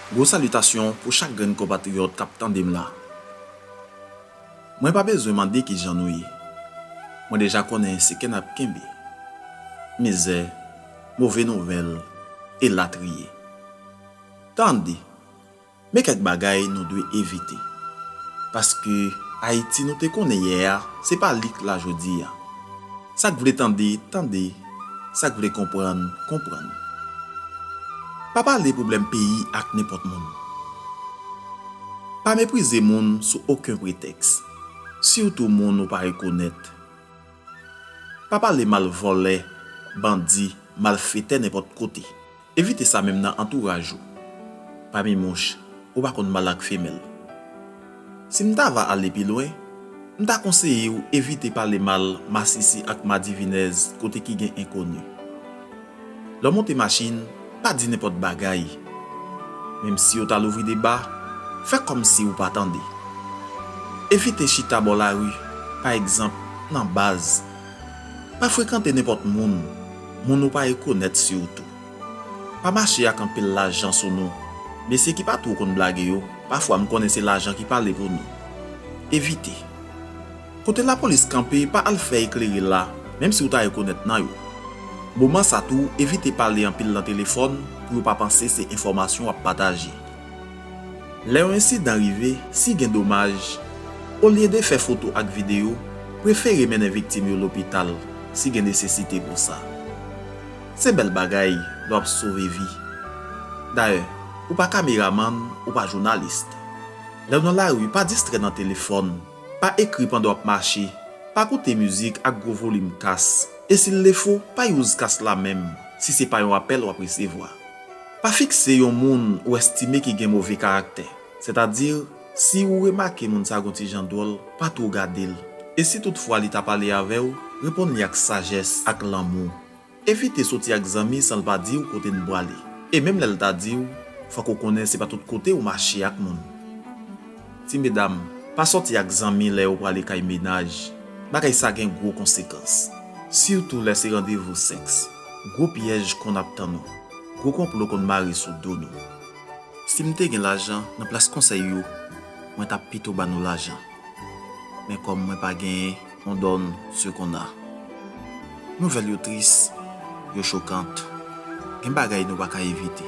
Gwo salitasyon pou chak grenn konpatriyòt k ap tande m la. Mwen pa bezwen mande ki jan nou ye. Mwen deja konnen se ke n ap kenbe. Mizè, move nouvèl, elatriye. Tande! Men kèk bagay nou dwe evite. Paske Ayiti nou te konnen yè a, se pa li k la jodi a. Sa k vle tande, tande, sa k vle konprann, konprann. Pa pale pwoblèm peyi ak nenpòt moun. Pa meprize moun sou oken pretèks, sitou moun ou pa rekonèt. Pa pale mal vòlè, bandi, malfetè nenpòt kote. Evite sa menm nan antouraj ou. Pami mouch, ou pa konn mal ak femèl. Si m ta va ale pi lwen, m ta konseye ou evite pale mal masisi ak madivinèz kote ki gen enkoni. Lè w monte machin, pa di nenpòt bagay. Menm si yo ta louvri deba, fè kòm si ou pa tande. Evite chita bò lari, pa egzanp, nan baz. Pa frekante nenpòt moun, moun ou pa rekonèt sitou. Pa mache ak anpil lajan sou nou, mesye ki pa two konn blage yo, pafwa m konnen se lajan ki pale pou nou. Evite. Kote lapolis kanpe pa al fè eklere la, menm si ou ta rekonèt nan yo. Moman sa tou evite pale anpil nan telefòn pou yo pa panse se enfòmasyon w ap pataje. Lè yon ensidan rive, si gen domaj, olye de fè foto ak videyo, prefere mennen viktim yo lopital si gen nesesite pou sa. Se bèl bagay lè w ap sove vi. Dayè, ou pa kameramann, ou pa jounalis. Lè w nan lari, pa distrè nan telefòn, pa ekri pandan w ap mache, pa koute mizik ak gwo volim kas, e sil defo, pa use kas la menm si se pa yon apèl w ap resevwa. Pa fikse yon moun ou estime ki gen move karaktè. Sètadi, si ou remake moun sa gen yon ti jan dwòl, pa twò gade l. E si tout fwa li ta pale avè w, reponn li ak sajès, ak lanmou. Evite soti ak zanmi san l pa di w kote n prale. E menm lè l ta di w, fòk ou konnen se pa tout kote ou mache ak moun. Ti medam, pa soti ak zanmi lè yo prale kay mennaj. Bagay sa gen gwo konsekans. Sitou lè se randevou sèks. Gwo pyèj konn ap tann ou. Gwo konplo konn mare sou do nou. Si m te gen lajan, nan plas konsèy yo, mwen t ap pito ba nou lajan. Men kòm mwen pa genyen, on donne ce qu'on a. Nouvèl yo tris, yo chokant. Gen bagay nou pa ka evite.